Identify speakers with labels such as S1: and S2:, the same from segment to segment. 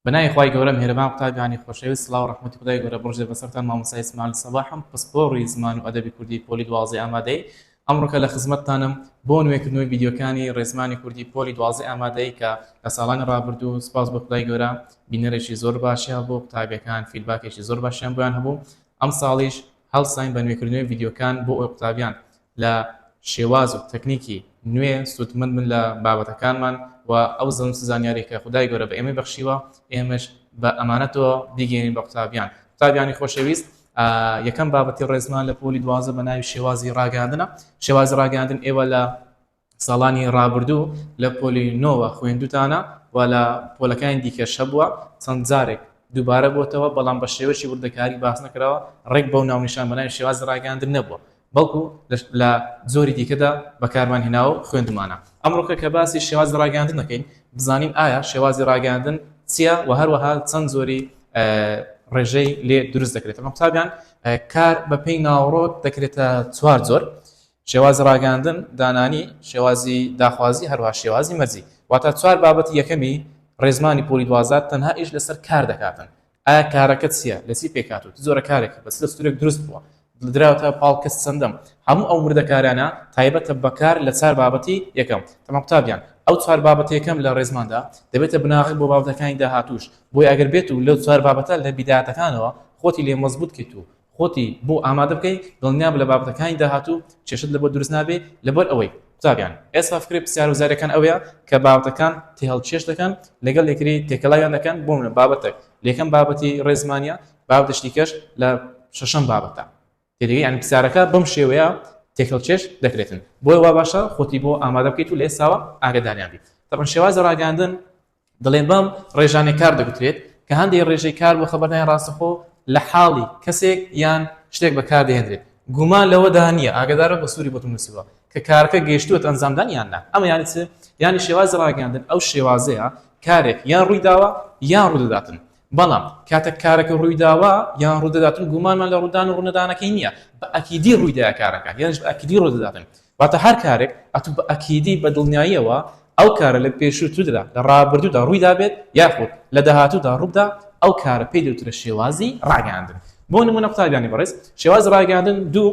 S1: بەناوی خوای گەورە میهرەبان قوتابیانی خۆشەویست سڵاو ڕەحمەتی خودای گەورە بڕژێ بەسەرتان مامۆستا ئیسماعیل سەباحم پسپۆڕی زمان و ئەدەبی کوردی پۆلی دوازدە ئامادەیی ئەمڕۆکە لە خزمەتتانم بۆ نوێکردنەوەی ڤیدیۆکانی ڕێزمانی کوردی پۆلی دوازدە ئامادەیی کە لە ساڵانی ڕابردوو سپاس بۆ خودای گەورە بینەرێکی زۆر باشی هەبوو قوتابیەکان فیدباکێکی زۆر باشیان بۆیان هەبوو ئەمساڵیش هەڵساین بە نوێکردنەوەی ڤیدیۆکان بۆ ئەو قوتابیان لە شێواز و تەکنیکی نوێ سوودمەند بن لە بابەتەکانمان و ئەو زەم چ زانیاریە کە خودای گەورە بە ئێمەی بەخشیوە ئێمەش بە ئەمانەتەوە بیگەیەنین بە قوتابیان قوتابیانی خۆشەویست یەکەم بابەتی ڕێزمان لە پۆلی دوازە بە ناوی شێوازی ڕاگەاندنە شێوازی ڕاگەاندن ئێوە لە ساڵانی ڕابردوو لە پۆلی نۆوە خوێندووتانە و لە پۆلەکانی دیکەش هەبووە، چەند جارێک دووبارە بۆتەوە، بەڵام بە شێوەیەکی وردەکاری باس نەکراوە، ڕێک بەو ناونیشان بە ناوی شێوازی ڕاگەیاندن نەبووە، بەڵکو لە جۆری دیکەدا بەکارمان هێناوە و خوێندوومانە. ئەمڕۆکە کە باسی شێوازی ڕاگەیاندن دەکەین، بزانین ئایا شێوازی ڕاگەیاندن چییە و هەروەها چەند جۆری ڕێژەی لێ دروست دەکرێتەوە. قوتابیان کار بە پێی ناوەڕۆک دەکرێتە چوار جۆر. شێوازی ڕاگەیاندن، دانانی، شێوازی داخوازی هەروەها شێوازی مەرجی. واتە چوار بابەتی یەکەمی ڕێزمانی پۆلی دوازدە تەنها ئیش لەسەر کار دەکاتن، ئایا کارەکە چیە؟ لە چی پێکهاتووە؟ چ جۆرە کارێکە؟ بە چ دەستورێک دروست بووە؟ دراوەتە پاڵ کەسی چەندەم؟ هەموو ئەو وردەکاریانە تایبەتە بە کار لە چوار بابەتی یەکەم. تەمام قوتابیان، ئەو چوار بابەتە یەکەم لە ڕێزماندا دەبێتە بناغەک بۆ بابەتەکانی داهاتووش، بۆیە ئەگەر بێت و لەو چوار بابەتە لە بیدایەتەکانەوە خۆتی لێ مەزبووت کەیت و خۆتی بۆ ئامادە بکەی دڵنیابە لە بابەتەکانی داهاتوو کێشەت لەبۆ دروست نابێ لەبەر ئەوەی قوتابیان ئێستا فکرەی پرسیار و زاریەکان ئەوەیە کە بابەتەکان تێهەڵکێش دەکەن لەگەڵ یەکری تێکەلاویان دەکەن بۆ منە بابەتەک لەکەم بابەتی ڕێزمانیە بابەتش دیکەش لە شەشەم بابەتە تێدەگەی یانی پرسیارەکە بەم شێوەیە تێکەڵکێش دەکرێتن بۆیە وا باشە خۆتی بۆ ئامادە بکەیت و لە ئێستاوە ئاگەداریان بیت تەبەن شێوازی ڕاگەیاندن دەڵێن بەم ڕێژانەی کار دەگوترێت کە هەندێک ڕێژەی کار بۆ خەبەردانی ڕاستەخۆ لە حاڵی کەسێک یان شتێک بەکاردەهێنرێت گومان لەوەدا نییە ئاگدارە بە سووری بۆتم نووسیوە کە کارەکە گەیشتووە ئەنجامدان یان نا ئەمە یانی چ یانی شێوازی ڕاگەاندن ئەو شێوازەیە کارێک یان ڕووی داوە یان ڕوودەداتن بەڵام کاتە کارەکە ڕوویداوە یان ڕوودەداتن گومانمان لە ڕوودان و ڕوونەدانەکەی نییە بە ئەکیدی ڕوویدا کارەکە یانش بە ئەکیدی ڕوودەداتن واتە هەر کارێک ئەتوو بە ئەکیدی بە دڵنیاییەوە ئەو کارە لە پێشووتردا، لە ڕابردوودا ڕووی دابێت یاخود لە داهاتوودا ڕووبدا، ئەو کارە پێی دەوترێت شێوازی ڕاگەیاندن. بۆ نموونە قوتابیانی بەڕێز، شێوازی ڕاگەیاندن دوو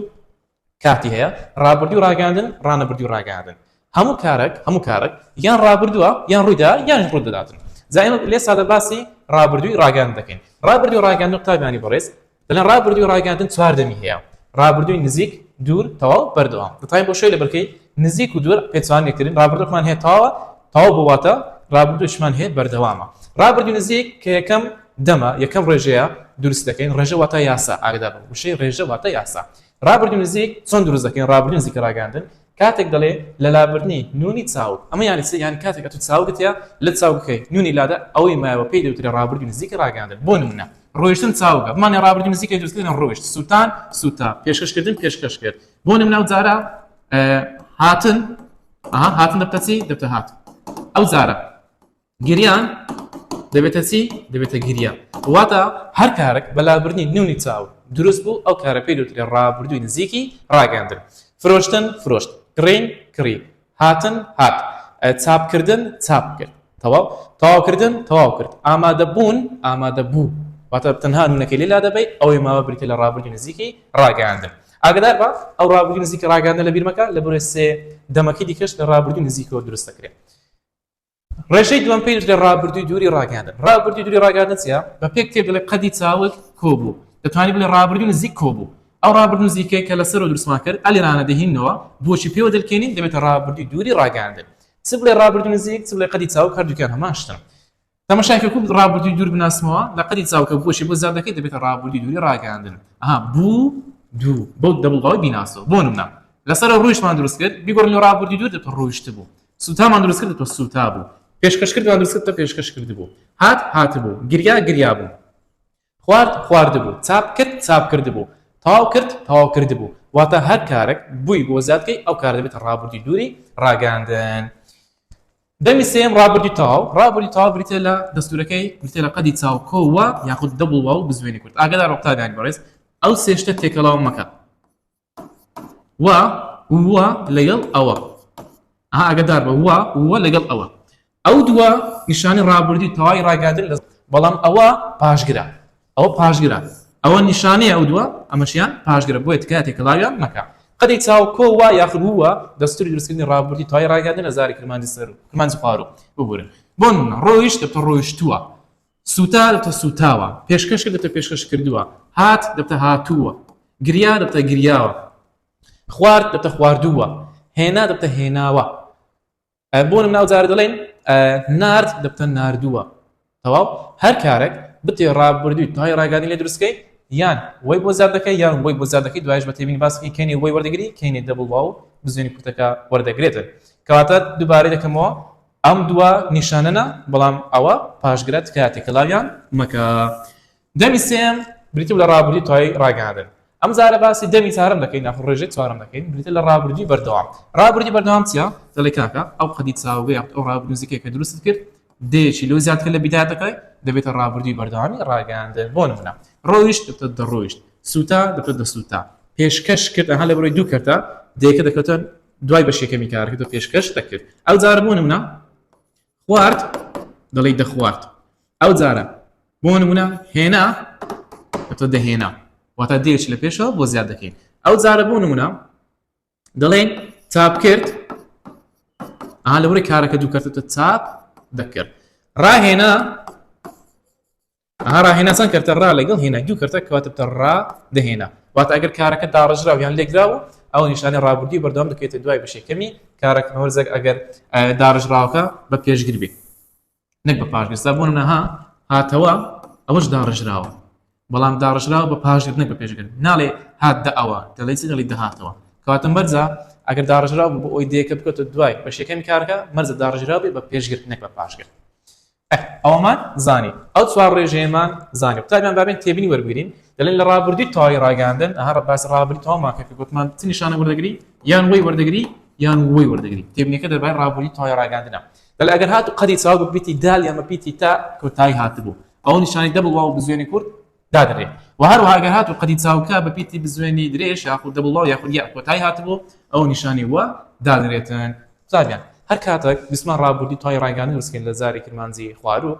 S1: کاتی هەیە، ڕابردووی ڕاگەیاندن، ڕانەبردووی ڕاگەیاندن. هەموو کارەک، هەموو کارەک یان ڕابردووە، یان ڕووی دا، یانیش ڕوو دەداتن. جا ئێمە لێ سادە باسی ڕابردووی ڕاگەیاندن دەکەین. ڕابردووی ڕاگەیاندن قوتابیانی بەڕێز، دەڵێن ڕابردووی ڕاگەیاندن چوار دەمی هەیە ڕابردووی نزیک دوور تەواو بەردەوام دەتوانین بۆ شوێ لە بەرکەی نزیک و دوور پێچوان لێکردن ڕابردوومان هەیە تاوە تاو بواتە ڕابردووشمان هەیە بەردەوامە ڕابردوو نزیک کە یەکەم دەمە یەکەم ڕێژەیە دروست دەکەین ڕێژە واتە یاسا ئاگدا بە وشەی ڕێژە واتە یاسا ڕابردوو نزیک چۆن دروست دەکەین ڕابردوو نزیکە ڕاگەاندن کاتێک دەڵێ لەلابردنی نوونی چاوگ، ئەمە یانی چ؟ یانی کاتێک ئەتوو چاوگت یا لە چاوگەکەی نوونی لادە، ئەوەی مایەوە پێی دەوترێ ڕابردووی نزیکی ڕاگەیاندن، بۆ نموونە. ڕۆیشتن چاوگە، بمانەیە ڕابردووی نزیکەی دروست کردن ڕۆیشت، سووتان سووتا، پێشکەش کردن پێشکەش کرد، بۆ نموونە ئەو جارە هاتن، ئەها هاتن دەبتە چی؟ دەبتە هات، ئەو جارە. گریان دەبێتە چی دەبێتە گریا واتە هەر کارێک بەلابردنی نونی چاو دروست بوو ئەو کارە پێی دوترێ ڕابردووی نزیکی ڕاگەاندن فرۆشتن فرۆشت کڕین کڕی هاتن هات چاپکردن چاپ کرد تەواو تەواوکردن تەواو کرد ئامادە بوون ئامادە بوو واتە تەنها نونەکەی لێلا دەبی ئەوەی ماوە بریتە لە ڕابردی نزیکی ڕاگەاندن ئاگدار بە ئەو ڕابردی نزیکی ڕاگەاندە لە بیرمەکە لە بەرێ سێ دەمەکەی دیکەش لە ڕابردی نزیکەوە دروست دەکرێت ڕێژەی دووەم پێی دەشڵێ ڕابردووی دووری ڕاگەیاندن ڕابردووی دووری ڕاگەیاندن چیە بە پێک تێ دەڵێ قەدی چاوت کۆبوو دەتوانانی بڵێ ڕابردوو نزیک کۆبوو ئەو ڕابردوو نزیکەی کە لەسەر و درسمان کرد ئەلیرانە دەهینەوە بۆچی پێوە دەلکێنین دەبێتە ڕابردووی دووری ڕاگەیاندن چ بڵێ ڕابردوو نزیک چ بڵێ قەدی چاو کردوکیان هەمان شتن تەمەشاکە کو ڕابردووی دوور بناسمەوە لە قەدی چاوکە بۆچی بۆ زیادەکەی دەبێتە ڕابردووی دووری ڕاگەیاندن ئەها بوو دوو بەو دەبڵ باوی بیناسەوە بۆ نمونە لەسەر ڕوویشمان دروست کرد بیگۆڕنەوە ڕابردووی دوور دەبێتە ڕۆیشت بوو سوتامان دروست کرد تۆ سوتا بوو پێشکەش کردمان دروست کرد تۆ پێشکەش کرد بوو هات هات بوو گریا گریا بوو خوارد خوارد بوو چاپ کرد چاپ کرد بوو تاو کرد تاو کرد بوو واتە هەر کارێک بووی بۆ زیادکەی ئەو کار دەبێت ڕابردی دووری ڕاگەاندن دەمی سێم ڕابردی تاو ڕابردی تاو بریتە لە دەستورەکەی بریتە لە قەدی چاوکۆوە یاخود دەبڵوە و بزوێنی کورد ئاگدار ڕۆپتاگانی بەڕێز ئەو سێشتە تێکەڵاو مەکە و و لەگەڵ ئەوە ئاگدار بە و و لەگەڵ ئەوە ئەو دووە نیشانی ڕابردووی تەواوی ڕاگاتر لە بەڵام ئەوە پاشگرە ئەوە پاشگرە ئەوە نیشانەیە ئەو دووە ئەمەشیان پاشگرە بۆیە تکات تێکەڵاویان مەکە قەدی چاوکۆ وا یاخود ووە دەستوری درستکردنی ڕابردی توای ڕاگەندە لە زاری کرمانجی سەر و کرمانجی پارو ببورن بۆن ڕۆیشت تە ڕۆیشتووە سوتا دەبتە سووتاوە. پێشکەش کرد دەبتە پێشکەش کردووە. هات دەبتە هاتووە. گریا دەبتە گریاوە. خوارد دەبتە خواردووە. هێنا دەبتە هێناوە. بۆ نمونە ئەو جارە دەڵێن نارد دەبتە ناردووە. تەواو هەر کارێک بتێ ڕابردووی تای ڕاگەانی لێ دروستکەی یان وەی بۆ زیاد دەکەی یان وەی بۆ زیاد دەکەی دوایش بە تێبینی باسەکەی کەینی وەی وەردەگری کەینی دەبڵ واو بزوێنی کورتەکە وەردەگرێتن کەواتە دووبارەی دەکەمەوە ئەم دووە نیشانەنە بەڵام ئەوە پاشگرە تکایە تێکەلاویان مەکە. دەمی سێیەم بریتی بوو لە ڕابردووی توای ڕاگەیاندن ئەم جارە باسی دەمی چارەم دەکەین یاخود ڕێژەی چوارەم دەکەین بریتە لە ڕابردووی بەردەوام ڕابردووی بەردەوام چیە دەڵێ کاکە ئەو قەدی چاوگە یاخود ئەو ڕابردوو نزیکەی کە دروستت کرد دەیەکی لەو زیاتر لە بیدایەتەکەی دەبێتە ڕابردووی بەردەوامی ڕاگەیاندن بۆ نمونە ڕۆیشت دەبێتە دەڕۆیشت سوتا دەبێتە دەسوتا پێشکەش کرد ئەها لە بەرەی دوو کەرتە دەیەکە دەکەوتن دوای بەشی یەکەمی کارەکەت بە پێشکەش دەکرد ئەوجارە بۆ نمونە خوارد دەڵی دەخوارد ئەوجارە بۆ نمونە هێنا تۆ دەهێنا واتە دێچ لە پێشەوە بۆ زیاد دەکەین ئەو جارە بۆ نمونە دەڵێن چاپ کرد ئا لەوری کارەکە دووکەتە چاپ دەکرد ڕاهێنا ئەها ڕاهێناسان کەرتە ڕا لەگەڵ هێنای دوو کەرتە کەواتە بتە ڕا دەهێنا واتە ئەگەر کارەکە داڕێژراو یان لێکدراو ئەو نیشانەی ڕابردووی بەردەوام دەکەوێتە دوای بەشێکەمی کارەکە هەورزەک ئەگەر داڕێژراوەکە بە پێشگر بێت نەک بە پاشگەستا بوون نەها هاتەوە ئەوەش داڕژراوە بەڵام داڕژراوە بە پاشگر نەک بە پێشگر ناڵێ هات دە ئەوە دەڵی چگەڵی دەهاتەوە کاتم بەرزە ئەگەر داڕژراو بۆ ئەوی دێکە بکەوتە دوای بە شەکەمی کارەکە مەرزە داڕژراوی بە پێشگر نەک بە پاشگر ئەه ئەوەمان زانی ئەو چوار ڕێژەیەمان زانی قوتابیان با بێن تێبینی وەربگرین دەڵێن لە ڕابردووی تەواوی ڕاگەیاندن ئەها ڕە باسی ڕابردووی تەواومان کرد کە گوتمان چ نیشانە وەردەگری یان وەی وەردەگری یان وەی وەردەگری تێبینیەکە دەربارەی ڕابردووی تەواوی ڕاگەیاندنە دەڵێ ئەگەر هاتوو قەدی چاوگ بپیتی دال یان بپیتی تا کۆتایی هاتبوو ئەو نیشانەی دەبڵ واو بزوێنی کورد دادەنرێت و هەروەها ئەگەر هاتوو قەدی چاوکە بە پیتی بزوێنی درێژ یاخود دەبڵ باو یاخود یاخود کۆتایی هاتبوو ئەو نیشانی وە دادەنرێتن زاریان هەر کاتێک بیسمان ڕابوردی توای ڕایگانی وسکین لە زاری کرمانجی خواروو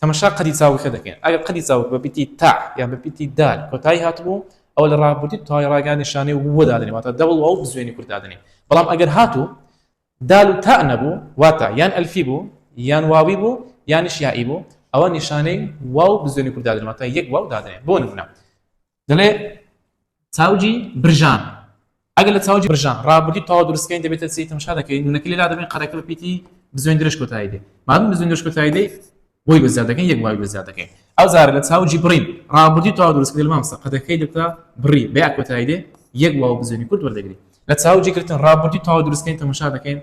S1: تەمەشا قەدی چاوکە دەکەن ئەگەر قەدی چاوک بە پیتی تا یا بە پیتی دال کۆتایی هاتبوو ئەو لە ڕابوردی توای ڕایگانی شانەی وە دادنێ واتە دەبڵ باو بزوێنی کورت دادنێ بەڵام ئەگەر هاتوو دال و تاء نەبوو واتە یان ئەلفی بوو یان واوی بوو یانیش یائی بوو ئەوە نیشانەی واو بزوێنی کورد دادەنێ واتە یەک واو دادەنێ بۆ نمونە دەڵێ چاوجی برژان ئەگەر لە چاوجی برژان ڕابردی تاوا دروستکەین دەبێتە چی تەمشا دەکەین نونەکە لێلا دەبین قەرەکە بە پیتی بزوێن درێژ کۆتایی دێ مادەم بزوێن درێژ کۆتایی دێ بۆی بە زیاد دەکەین یەک بڵاوی بە زیاد دەکەین ئەو جارە لە چاو جی بڕین ڕابردوی تەواو دروست کردی مامۆستا قەدەکەی دەکا بڕی بە یا کۆتایی دێ یەک بڵاو بزوێنی کورت وەردەگری لە چاو جی گرتن ڕابردوی تەواو دروست کەین تەمەشا دەکەین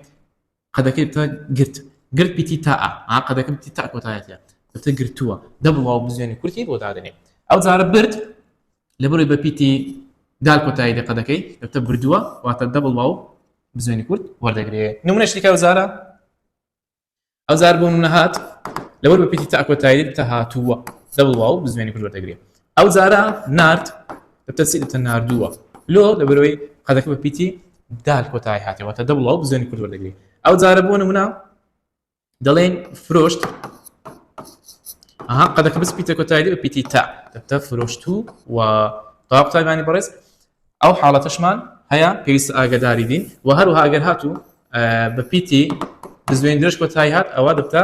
S1: قەدەکەی تا گرت گرت پیتی تا ئا قەدەکەم تی تا کۆتایەتە دەتە گرتووە دە بڵاو بزوێنی کورتی بۆ دادنێ ئەو جارە برد لە بڕی بە پیتی دال کۆتایی دەقەدەکەی دەتە بردووە واتە دە بڵاو بزوێنی کورت وەردەگرێ نمونەشتیکە و زارە ئەوجار بۆ منە هات لەوەر بە پیتی تاکۆتایی تە هاتووە دەبڵ واو بزوێنی کورد وەردەگرێ ئەو جارە نرد تەسی تە نردووە لۆ لە بەرەوەی قەدەکە بە پیتی دال کۆتایی هاتەوە تە دەبڵ واو بزوێنی کورد وەردەگرێ ئەو جارە بۆ نمونە دەڵێن فرۆشت ئەها قەدەکە بس پیتە کۆتایی بە پیتی تا تە فرۆشت و و تاقتایبانی بەڕێز ئەو حاڵەتەشمان هەیە پێویستە ئاگداری بین و هەروها ئەگەر هاتوو بە پیتی بزوێن درێژ کۆتایی هات ئەوە دەبتە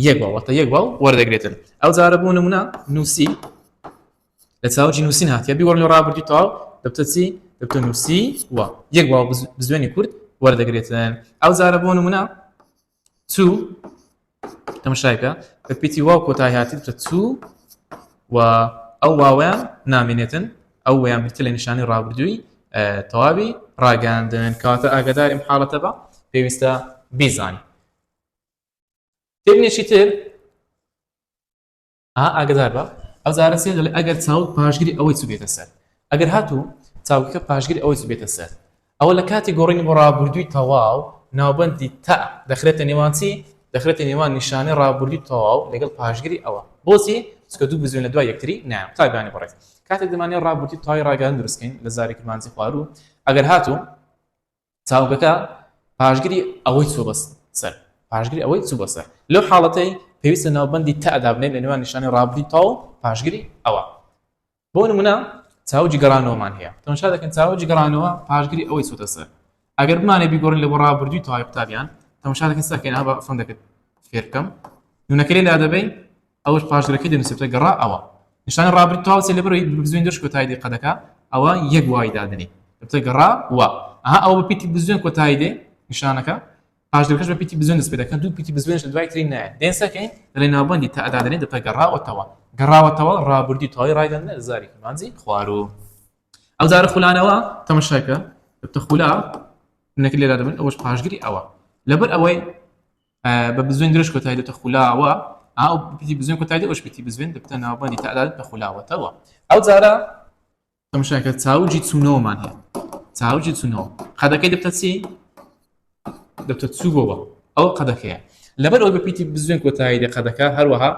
S1: یەک باڵەتە یەک باڵ وەردەگرێتن ئەو جارە بوو نمونە نووسی لە چاوجی نووسین هاتیە بیوەڕ لە ڕابردی تاو دەبتە چی دەبتە نووسی و یەک باڵ بزوێنی کورد وەردەگرێتن ئەو جارە بۆ نمونە تو تەمەشای بکە بە پیتی واو کۆتایی هاتیت بکە تو و ئەو واوەیان نامێنێتن ئەو وەیان بتە لە نیشانی ڕابردووی تەواوی ڕاگەاندن کاتە ئاگداریم حاڵەتە بە پێویستە بیزانانی تێبنێکی تر ئا ئاگدار بە ئەو زارە سێ دەڵێ ئەگەر چاوت پاشگری ئەوەی چ بێتە سەر ئەگەر هاتوو چاوکە پاشگری ئەوەی چ بێتە سەر ئەوە لە کاتی گۆڕینی بۆ ڕابردووی تەواو ناوبندی تا دەخرێتە نێوانچی دەخرێتە نێوان نیشانە ڕابردووی تەواو لەگەڵ پاشگری ئەوە بۆچی چکە دوو بزوێن لە دوای یەکتری نا تابانی بڕێت کاتێک دەمانێت ڕابردی تای ڕاگەان درستکەین لە زاری کرمانجی خوارو ئەگەر هاتوو چاوگەکە پاشگری ئەوەی چووە بەس سەر پاشگری ئەوەی چوو بەسەر لەو حاڵەتەی پێویستە ناوبندی تادابنێت لە نێوان نیشانی ڕابردووی تاو پاشگری ئەوە بۆ نمونە چاوجی گەڕانەوەمان هەیە تەماشا دەکەن چاوجی گەڕانەوە پاشگری ئەوەی چوتە سەر ئەگەر بمانێ بیگۆڕین لە بۆ ڕابردووی تاوای قوتابیان تەماشا دەکەن سەکەین ئەوە فۆن دەکرد فێرکەم نونەکەی لا دەبین ئەوەش پاشگرەکەی دەنووسێتە گەڕا ئەوە نیشانە ڕابرد تاو سێ لەبەرەوەی بزوێن دەش کۆتایی دێ قەدەکە ئەوە یەک وای دادنێ دەبتە گەڕا وە ئەها ئەوە بە پیتی بزوێن کۆتایی دێ نیشانەکە پاشگرەکەش بە پیتی بزوێن دەست پێ دەکەن دوو پیتی بزوێنش لە دوای ترین نایە دێن سەکەین لەلێ ناوبەندی تا ئەدادنێ دەبتە گەڕاوەتەوە گەڕاوەتەوە ڕابردی تەواوی ڕایدەنە زاری مانجی خوارو ئەو زارە خولانەوە تەمەشاکە دەبتە خولا منەکە لێرا دەبن ئەوەش پاشگری ئەوە لەبەر ئەوەی بە بزوێن درێژ کۆتایی دێتە خولاوە ئاو پتی بزوێن کۆتایی ئەوش پتی بزوێن دەبتە ناوبانی تەعداد لە خولاوەتەوە ئەو جارە تەمشاکە چاوجی چوونەوەمان هەیە چاوجی چوونەوە قەدەکەی دەبتە چی دەبتە چووەوە ئەو قەدەکەیە لەبەر ئەو بە پیتی بزوێن کۆتایی دێ قەدەکە هەروەها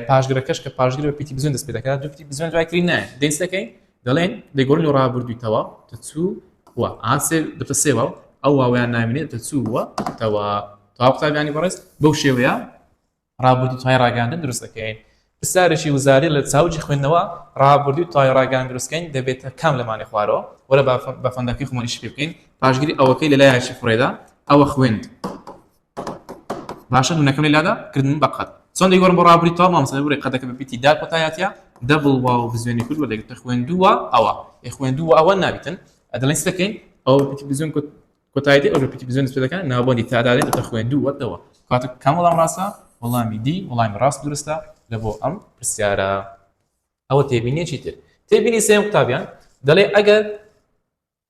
S1: پاشگرەکەش کە پاشگر بە پیتی بزن دەست پێ دەکات دوپتی بزن دوای تری نایە دەستەکەی دەڵێن دەگۆرن و ڕابردوویتەوە دەچوو و ئاسێ دەتە سێوە و ئەو واویان نامێنێت دەچووە تەوە تا قوتابیانی بەڕێز بەو شێوەیە ڕابردوو توای ڕاگەاندن دروست دەکەین پرسیارێکی وزاری لە چاوجی خوێندنەوە ڕابردووی توای ڕاگەان دروستکەین دەبێتە کام لەمانی خوارەوە وەرە بە فەندەکەی خۆمەنیش پێ بکەین پاشگیری ئەوەکەی لە لایەکی فڕێدا ئەوە خوێند باشە نونەکەم لە لادا کردن بە قەد چۆن دەی گۆڕم بۆ ڕابری تا مامسە بڕی قەدەکە بەپیتی دا کۆتایەتە دەبڵ وا و بزوێنی کورد بە دەگرتە خوێندووە ئەوە ئێ خوێندووە ئەوە نابیتن ئەدڵێن دەکەین ئەو پیتی بزوێن کورد کۆتایەتی ئەو پیتی بزوێن دەکەن ناوبندی تادادێت دە خوێندووەتەوە کاتە کەم وەڵام ڕاستە وەڵامی دی وەڵامی ڕاست درستە لە بۆ ئەم پرسیارە ئەوە تێبینێکی تر تێبینی سێم قوتابیان دەڵێ ئەگەر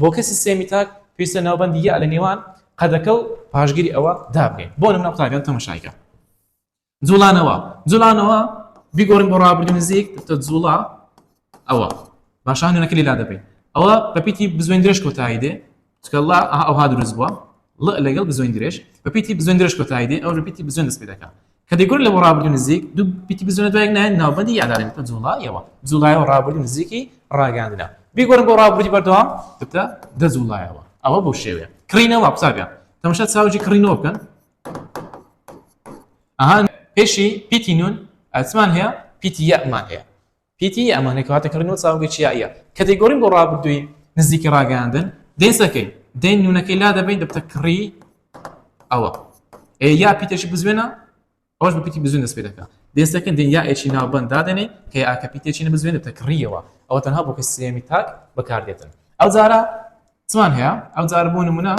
S1: بۆ کەسی سێمی تاک پێویستە ناوبەندی یە لە نێوان قەدەکە و پاشگیری ئەوە دابنێین بۆ نمونە قوتابیان تەمەشایکە جوڵانەوە جوڵانەوە بیگۆڕین بۆ ڕابردوو نزیک تە جوڵا ئەوە باشان نوێنەکە لێلا دەبێت ئەوە بەپیتی بزوێن درێژ کۆتایی دێ چکەڵا ئەوها دروست بووە لەگەڵ بزوێن درێژ بەپیتی بزوێن درێژ کۆتایی دێ ئەو بەپیتی بزوێن دەست پێ دەکات کەدەیگورن لەبۆ ڕابردووی نزیک دوو بیتی بزوێنە دوای نایەن ناوبەندی یادارین بکە جوڵایەوە جوڵایەوە ڕابردووی نزیکی ڕاگەیاندنە بیگۆرن بۆ ڕابردووی بەردەوام بکە دەجوڵایەوە ئەوە بۆ شێوێ کڕینەوە قوتابیان تەمەشا چاوجی کڕینەوە بکەن ئەهان پێشی پیتی نون ئەسمان هەیە پیتی یەمان هەیە پیتی یەمانی کە واتە کڕینەوە چاوگی چیاییە کە دەیگۆڕین بۆ ڕابردووی نزیکی ڕاگەیاندن دەیسەکەین دەین نونەکەی لا دەبین دەبتە کڕی ئەوە یا پیتێکی بزوێنە ئەوش بە پیتی بزوێن دەست پێ دەکات دەستەکەن دین یا ئێکی ناوبند دادێنێ کە ئاکە پیتێکی نە بزوێنە تەکڕیەوە ئەوە تەنها بۆ کە سێمی تاک بەکاردێتن ئەو جارە چمان هەیە ئەو جار بۆ نمونە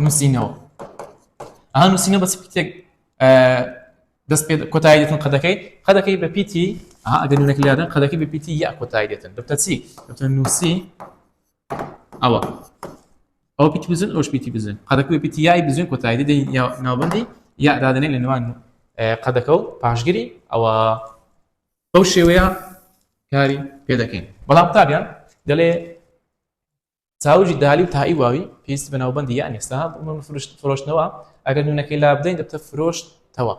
S1: نووسینەوە ئەها نووسینە بەس پیتێک دەست پێ کۆتایی دێتن قەدەکەی قەدەکەی بە پیتی ئەها ئەگەر نوونەکە لادن قەدەکەی بە پیتی یا کۆتایی دێتن دەبتە چی دەبتە نووسی ئەوە ئەو پیتی بزن ئەوش پیتی بزن قەدەکە بە پیتی یای بزن کۆتایی دێ ناوبندی یا دادنێ لە نوان قەدەکە و پاشگیری ئەوە بەو شێوەیە کاری پێ دەکەین بەڵام تابیان دەڵێ چاوگی دالی و تای واوی پێویستی بە ناوبەندی یان ئێستا بۆ فرۆشتنەوە ئەگەر نوونەکەی لابدەین دەبتە فرۆشتەوە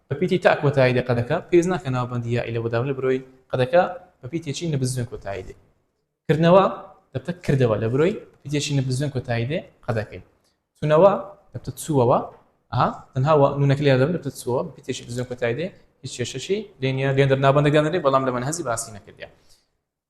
S1: بە پیتی تا کۆتایی لە قەدەکە پێویست ناکە ناوبەندی یائی لە بەداون لە برۆی قەدەکە بە پیتێکی نەبزوێن کۆتایی دێ کردنەوە دەبتە کردەوە لە برۆی پیتێکی نەبزوێن کۆتایی دێ قەدەکەی تونەوە دەبتە چووەوە ئەها تەنهاوە نونەکە لێ دەبن دەبتە چووە پیتێکی بزوێن کۆتایی دێ هیچ کێشەشی لێنیە لێن دەرنابندەگەندێ بەڵام لە من هەزی باسی نەکردە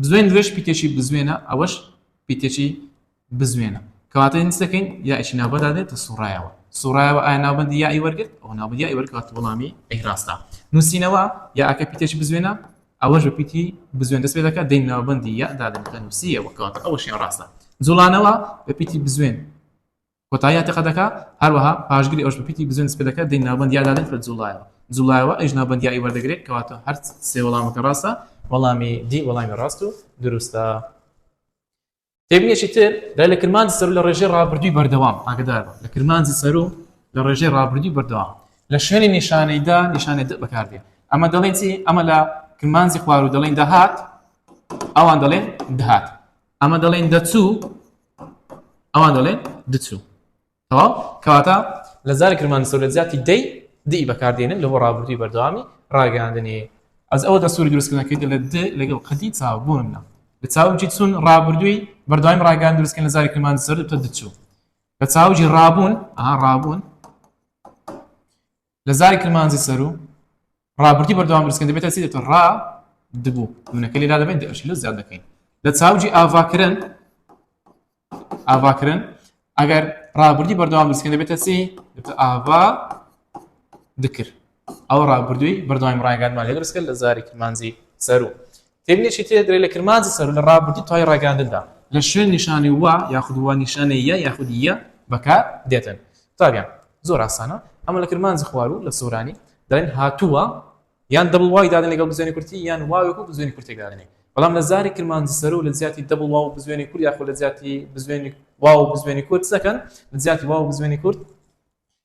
S1: بزوێن درێژ پیتێکی بزوێنە ئەوەش پیتێکی بزوێنە کەواتە نس دەکەین یائێکی ناوبەدا دێت کە سوڕایەوە سوڕایەوە ئایا ناوبەندی یائی وەرگرت ئەو ناوبەندی یائی وەرگات وەڵامی ئەی ڕاستە نووسینەوە یاکە پیتێکی بزوێنە ئەوەش بە پیتی بزوێن دەست پێ دەکات دەین ناوبەندی یادا دەنکە نووسیەوە کەواتە ئەوەشیان ڕاستە جوڵانەوە بە پیتی بزوێن کۆتایی ئەتەقە دەکا، هەروەها پاشگری ئەوش بە پیتی بزوێن سپێ دەکا دەی ناوبەندیا دادەن بە جوڵایەوە جوڵایەوە ئەویش ناوبەندیایی وەردەگرێ کەواتە هەر سێ وەڵامەکە ڕاستە وەڵامی دی وەڵامی ڕاست و دروستە تێبینێکی تر دای لە کرمانجی سەرو لە ڕێژەی ڕابردووی بەردەوام ئاگدار لە کرمانجی سەرو لە ڕێژەی ڕابردووی بەردەوام لە شوێنی نیشانەیدا نیشانێ دە بەکاردێ ئەمە دەڵێن چی ئەمە لە کرمانجی خوار و دەڵێن دەهات ئەوان دەڵێن دەهات ئەمە دەڵێن دەچوو ئەوان دەڵێن دچوو تەواو کەواتە لە زاری کرمان سەر لە زیاتی دەی دی بەکاردێنن لە بۆ ڕابردووی بەردەوامی ڕاگەاندنی ئەز ئەوە دەسووری دروستکردنەکەیت لە د لەگەڵ قەدی چاوبوونە لە چاوجی چون ڕابردووی بەردەوامی ڕاگەان دروستکە لە زاری کرمان سەر تە دچوو لە چاوجی ڕابوون ئا ڕابوون لە زاری کرمانجی سەرو ڕابردی بەردەوام درستکن دەبێتە چی دەێتە ڕا دبوو منەکە لێرا دەبێت دەشی لە زیاد دەکەین لە چاوجی ئاڤاکردن ئاڤاکردن ئەگەر ڕابردی بەردەوام درستکن دەبێتە چی دەێتە ئاڤا دکرد ئەو ڕابردووی بەردەوایم ڕایگانمان لێ درستکرد لە زاری کرمانجی سەرو تێبینێکی تر درێ لە کرمانجی سەروو لە ڕابردوو تای ڕاگەاندندا لە شوێن نیشانی وە یاخود وە نیشانەی یە یاخود یە بەکار دێتن. قوتابیان زۆر ئاسانە ئەمە لە کرمانجی خواروو لە سۆرانی دەڵێن هاتووە یان دەبڵ وای دادن لەگەڵ بزوێنی کورتی یان واوێک و بزوێنی کورتێک دادنێ بەڵام لە زاری کرمانجی سەروو لە جیاتی دەبڵ واو بزوێنی کورد یاخود لە جیاتی بزوێنی واو بزوێنی کورد سەکەن لە جیاتی واو بزوێنی کورد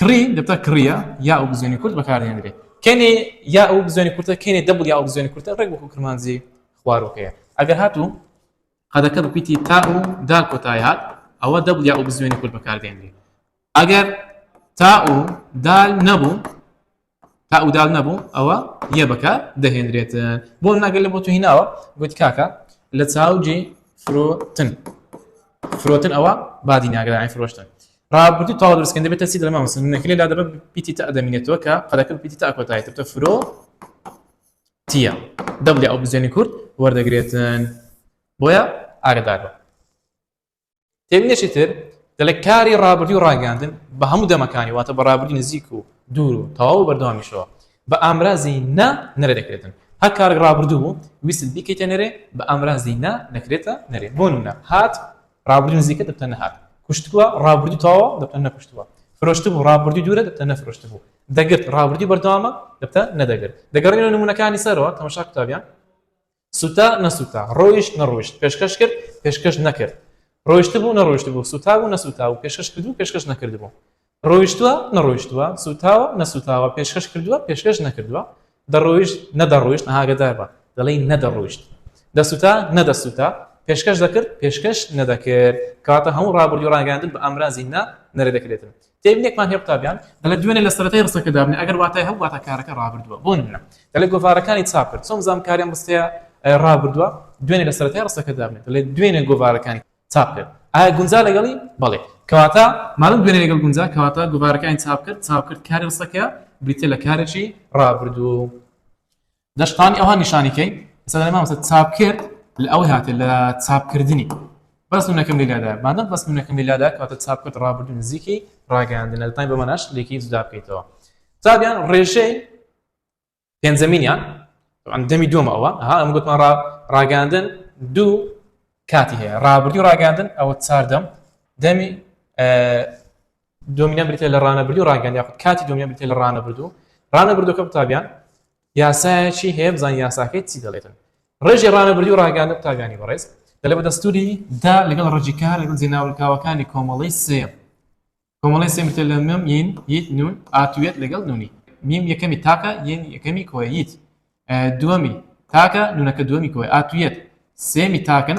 S1: کڕی دەبتە کڕیە یا و بزوێنی کورت بەکاردێنرێت کەێ یا و بزوێنی کورتە کەێ دەبل یا و بزوێنی کورتە ڕێک بۆ کرمانزی خوارۆکەیە ئەگەر هاتوو قەدەکە بپیتی تا و دا کۆتای هات ئەوە دەبل یا و بزوێنی کورت بەکاردێنرێت ئەگەر تا و دال نەبوو تا ئەو دال نەبوو ئەوە یە بەکە دەهێنرێتن بۆ ناگەل لە بۆ تو هیناوە گوت کاکە لە چاوجی فرۆتن فرۆتن ئەوە بادی ناگەدانی فرۆشتن ڕابردوو تاوا درستکەن دەبێت تەسی دەما مەسن نەکرێت لا دەبە پیتی تا دەمینێتەوە کە قەلەکە پیتی تا کۆتایی تە فرۆ تیە دەبلی ئەو بزیێنی کورد وەردەگرێتن بۆیە ئاگدارەوە تێبینێکی تر دەڵێ کاری ڕابردی و ڕاگەاندن بە هەموو دەمەکانی واتە بە ڕابردی نزیک و دوور و تەواو بەردەوامیشەوە بە ئامرازی نا نەرە دەکرێتن هەر کارێک ڕابردوو بوو ویست بیکەیتە نەرێ بە ئامرازی نا دەکرێتە نەرێ بۆ نە هات ڕابردی نزیکە دەبتە نەهات کوشتووە ڕابردی تەواوە دەبتە نەکوشتووە فرۆشت بوو ڕابردی دوورە دەبتە نەفرۆشت بوو دەگرت ڕابردی بەردەوامە دەبتە نەدەگرت دەگەڕێنەوە نمونونەکانی سەرەوە تەمەشا قوتابیان سوتا نەسوتا ڕۆیشت نەڕۆیشت پێشکەش کرد پێشکەش نەکرد ڕۆیشت بوو نەڕۆیشت بوو سوتا بوو نەسوتا و پێشکەش کردو پێشکەش نەکرد بوو ڕۆیشتووە نەڕۆیشتووە سوتاوە نەسوتاوە پێشکەش کردووە پێشکەش نەکردووە دەڕۆیشت نەدەڕۆیشت ئاگدار بە دەڵی نەدەڕۆیشت دەسوتا نەدەسوتا پێشکەش دەکرد پێشکەش نەدەکرد کاتە هەموو ڕابردوو ڕاگەاندن بە ئامرازی نا نەرە دەکرێتن تێبینێکمان هەیە قوتابیان دەڵێت دوێنێ لە سەرەتای ڕستەکە دابنێ ئەگەر واتای هەبوو واتە کارەکە ڕابردووە بۆ نمونە دەڵێت گۆڤارەکانی چاپ کرد چۆن بزانم کاریان ڕستەیە ڕابردووە دوێنێ لە سەرەتای ڕستەکە دابنێت دەڵێت دوێنێ گۆڤارەکانی چاپ کرد ئایا گونجا لەگەڵی بەڵێ کەواتە ماڵم دوێنێ لەگەڵ گونجا کەواتە گۆڤارەکانی چاپ کرد چاپ کرد کاری ڕستەکە بریتە لە کارێکی ڕابردوو دەشتانی ئەوها نیشانی کەین ئێستا دەڵێ مامۆستا چاپ کرد لە ئەوەی هاتێ لە چاپکردنی بەس نونەکەم لەلادا بانە بەس نونەکەم لەلادا کاتە چاپ کرد ڕابردو نزیکی ڕاگەیاندن لە تای بەمەناش لێکی جودا بکەیتەوە چابیان ڕێژەی پێنجەمینیان دەمی دومە ئەوە ها ئەم گوتمان ڕاگەاندن دوو کاتی هەیە ڕابردی ڕاگەاندن ئەوە چاردەم دەمی دۆمینە بریتە لە ڕانەبردو ڕاگەن یاخود کاتی دۆمینە بریتە لە ڕانەبردو ڕانەبردوەکە قوتابیان یاسایەکی هەیە بزان یاساکەی چی دەڵێتن ڕێژی ڕانەبردی و ڕاگەاندە قوتابیانی بەڕێز دەلێ بە دەستوری دا لەگەڵ ڕێژی کار لەگەڵ جێناولکاوەکانی کۆمەڵی سێ کۆمەڵی سێ بریتە لە مم ین یت نون ئاتوێت لەگەڵ نونی میم یەکەمی تاکە یەن یەکەمی کۆیت دووەمی تاکە نونەکە دووەمی کۆی ئاتوێت سێمی تاکن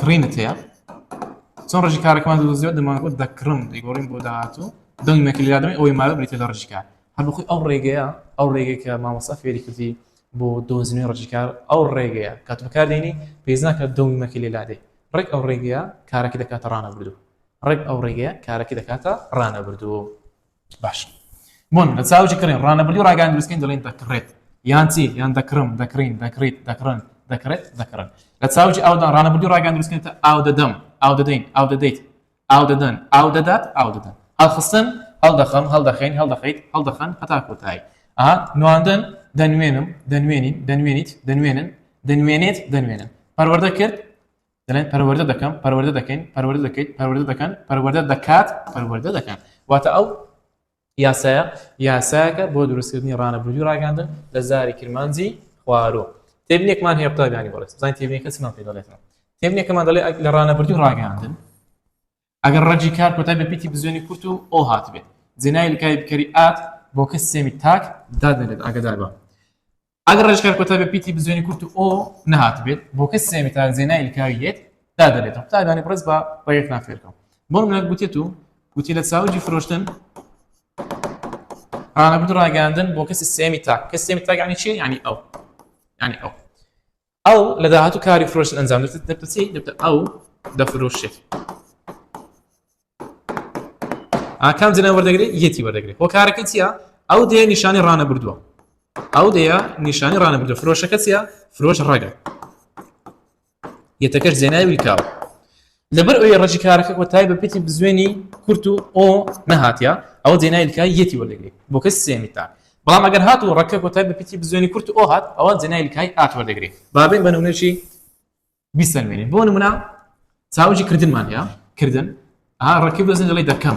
S1: کڕینت هەیە چۆن ڕژی کارەکەمان دۆزیەوە دەمانگوت دەکڕم دەیگۆڕین بۆ داهاتوو دەنگ مەکلیادەمە ئەوەی ماوە بریتە لە ڕژکار هەر بخۆی ئەو ڕێگەیە ئەو ڕێگەی کە مامۆستا فێری کردی بۆ دۆزنی ڕژکار ئەو ڕێگەیە کات بەکار دێنی پێز ناکات دەنگ مەکی لێ لادەی ڕێک ئەو ڕێگەیە کارەکە دەکاتە ڕانە بردو ڕێک ئەو ڕێگەیە کارەکە دەکاتە ڕانە بردو باش بۆن لە چاوکی کڕین ڕانەبلی ڕاگەان دروستکەین دەڵێن دەکڕێت یان چی یان دەکڕم دەکرین دەکریت دەکڕن دەکرێت دەکڕن لە چاوکی ئاودان ڕانەبلی ڕاگەان دروستکەێتە ئاو دەدەم ئاو دەدەین ئاو دەدەیت ئاو دەدەن ئاو دەدات ئاو دەدەن هەڵخستن هەڵدەخەم هەڵدەخین هەڵدەخیت هەڵدەخەن هەتا کۆتایی ئا نواندن دەنوێنم دەنوێنین دەنوێنیت دەنوێنن دەنوێنێت دەنوێنن پەروەردە کرد دەڵێن پەروەردە دەکەم پەروەردە دەکەین پەروەردە دەکەیت پەروەردە دەکەن پەروەردە دەکات پەروەردە دەکەن واتە ئەو یاسایە یاسایەکە بۆ دروستکردنی ڕانەبردوی ڕاگەاندن لە زاری کرمانجی خوارۆ تێبنێکمان هەیە قوتابیانی بەڵێ زانین تێبنێکە چمان پێ دەڵێتەوە تێبنێکەمان دەڵێ لە ڕانەبردوی ڕاگەاندن ئەگەر ڕەگی کار کۆتای بە پیتی بزوێنی کورت و ئۆ هاتبێت، جێناوی لکاوی بکەری ئات بۆ کە سێمی تاک دادەنرێت ئاگەدار بە. ئەگەر ڕەگی کار کۆتای بە پیتی بزوێنی کورت و ئۆ نەهاتبێت، بۆ کە سێمی تاک جێناوی لکاوی یێت دادەنرێتەوە. قوتابیانی بڕێز با ڕێگەکتان فێر کەم. بۆ نمونە گوتێت و گوتی لە چاوگی فرۆشتن ڕانەبرد ڕاگەیاندن بۆ کەسی سێمی تاک. کەسی سێمی تاک یانی چی؟ یانی ئەو. یانی ئەو. ئەو لە داهاتوو کاری فرۆشتن ئەنجام دەدات دەبتە چی دەبتە ئەو دەفرۆشێت ئاکام جنە وەردەگری یەتی وەردەگری هۆکارەکە چییە ئەو دێ نیشانی ڕانە بردووە ئەو دەیە نیشانی ڕانە بردو فرۆشەکە چیە فرۆش ڕەگە یەتەکەش جێنای ویکاو لەبەر ئۆێ ڕەجی کارەکە کۆتای بە پێتی بزوێنی کورت و ئۆ نەهاتیە ئەوە جێنای لکای یەتی وەردەگری بۆ کەسی سێمی تاک بەڵام ئەگەر هات و ڕەکە کۆتای بە پێتی بزوێنی کورت و ئۆ هات ئەوە جێنای لکای ئات وەردەگری بابین بە نمونەشی بیسەلمێنین بۆ نمونە چاوجی کردنمان هەیە کردن ها ڕەکی بزن لەڵی دەکەم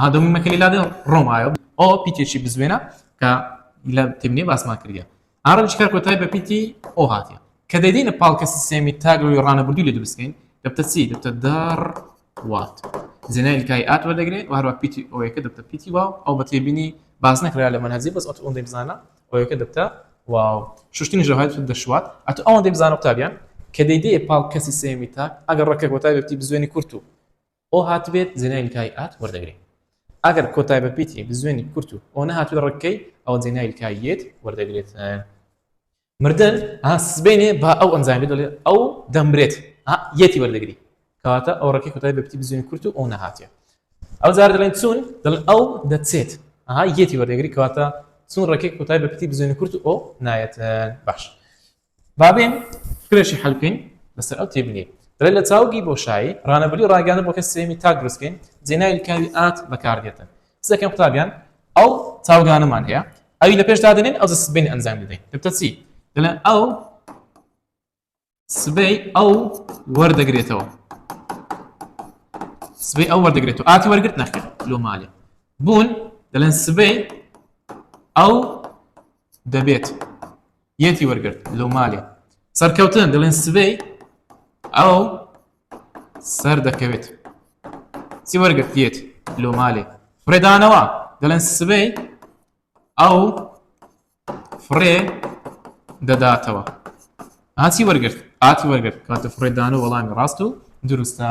S1: ئەها دەمووی مەکەلی لادێ ڕۆم ئایۆ ئۆ پیتێکی بزوێنە کە لە تێبنێ باسمان کردە ئارەم چکار کۆتای بە پیتی ئۆ هاتیە کە دەدینە پاڵکە سیستێمی تاگەوەی ڕانەبردوو لە دروستکەین دەبتە چی دەبتە دەڕ وات زنای کای ئات وەردەگرێت و هەروە پیتی ئەوەیەکە دەبتە پیتی واو ئەو بە تێبینی باز نەکرا لە منهزی بەس ئەت ئەوەندەی بزانە ئەوەیەکە دەبتە واو شوشتنی ژەهات دەشوات ئەت ئەوەندەی بزانە قوتابیان کە دەیدێ پاڵ کەسی سێمی تاک ئەگەر ڕەکە کۆتای بەتی بزوێنی کورت و ئۆ هاتبێت زێنای لکای ئات وەردەگرێ ئەگەر کۆتای بە پیتی بزوێنی کورت و ئۆ نەهاتووی ڕککەی ئەوە زێنای لکای یێت وەردەگرێت مردن ها سبێنێ با ئەو ئەنجامی دەڵێ ئەو دەمرێت یەتی وەردەگری کەواتە ئەو ڕکی کوتای بە پتی بزوێن کورت و ئەو نەهاتێ ئەو جار دەڵێن چون دڵ ئەو دەچێت ئەها یەتی وەردەگری کەواتە چون ڕکێک کوتای بە پتی بزوێن کورت و ئەو نایەت باش با بێن کرێشی حەل بکەین لەسەر ئەو تێبینی دەڵێت لە چاوگی بۆشایی ڕانەبری ڕاگەانە بۆ کە سێمی تاک دروستکەین جێنای لکاوی ئات بەکاردێتە سەکەم قوتابیان ئەو چاوگانەمان هەیە ئەوی لە پێش دادنین ئەو سبین ئەنجام دەدەین دەبتە چی دەڵێن ئەو سبەی ئەو وەردەگرێتەوە سبەی ئەو وەردەگرێتەوە ئاتی وەرگرت نەخێت لۆ مالێ بوون دەڵێن سبەی ئەو دەبێت یەتی وەرگرت لەو مالێ سەرکەوتن دەڵێن سبەی ئەو سەر دەکەوێت چی وەرگرت یەت لۆ مالێ فرێدانەوە دەڵێن سبەی ئەو فڕێ دەداتەوە هاچی وەرگرت ئاتی وەرگرت کاتە فرێدان و وەڵامی ڕاست و دروستە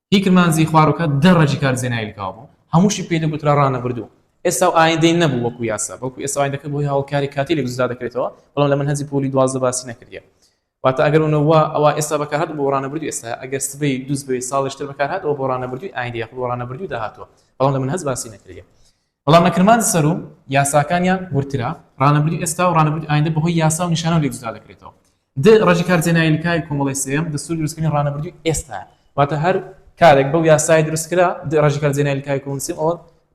S1: هی کرمانجی خواروکە دە ڕەگی کار زێنایل کاو بوو هەمووشی پێی دەگوترا ڕانەبردوو ئێستا و ئایندەی نەبوو وەکو یاسا بەڵکو ئێستا و ئایندەکە بۆ هی هەوڵکاری کاتیلێک جودا دەکرێتەوە بەڵام لە مەنهەجی پۆلی دوازدە باسی نەکردیە واتە ئەگەر ونە وا ئەوا ئێستا بەکارهات بۆ ڕانەبردوو ئێستا ئەگەر سبەی دووسبەی ساڵیشتر بەکارهات ئەوە بۆ ڕانەبردووی ئایندی یاخود بۆ ڕانەبردووی داهاتووە بەڵام لە مەنهەج باسی نەکردیە بەڵام لە کرمانج سەر و یاساکانیان وردترە، ڕانەبری ئێستا و ڕانەبری ئایندە بە هۆی یاسا و نیشانەوە لێک جودا دەکرێتەوە. د ڕەجی کار جێناین لکای کۆمەڵەی سێیەم، دەستوری دروستکردنی ڕانەبردووی ئێستایە. واتە هەر کارێک بەو یاسایە دروست کرا، د ڕەجی کار جێناین لکای کۆمەڵەی سێیەم، ئەوە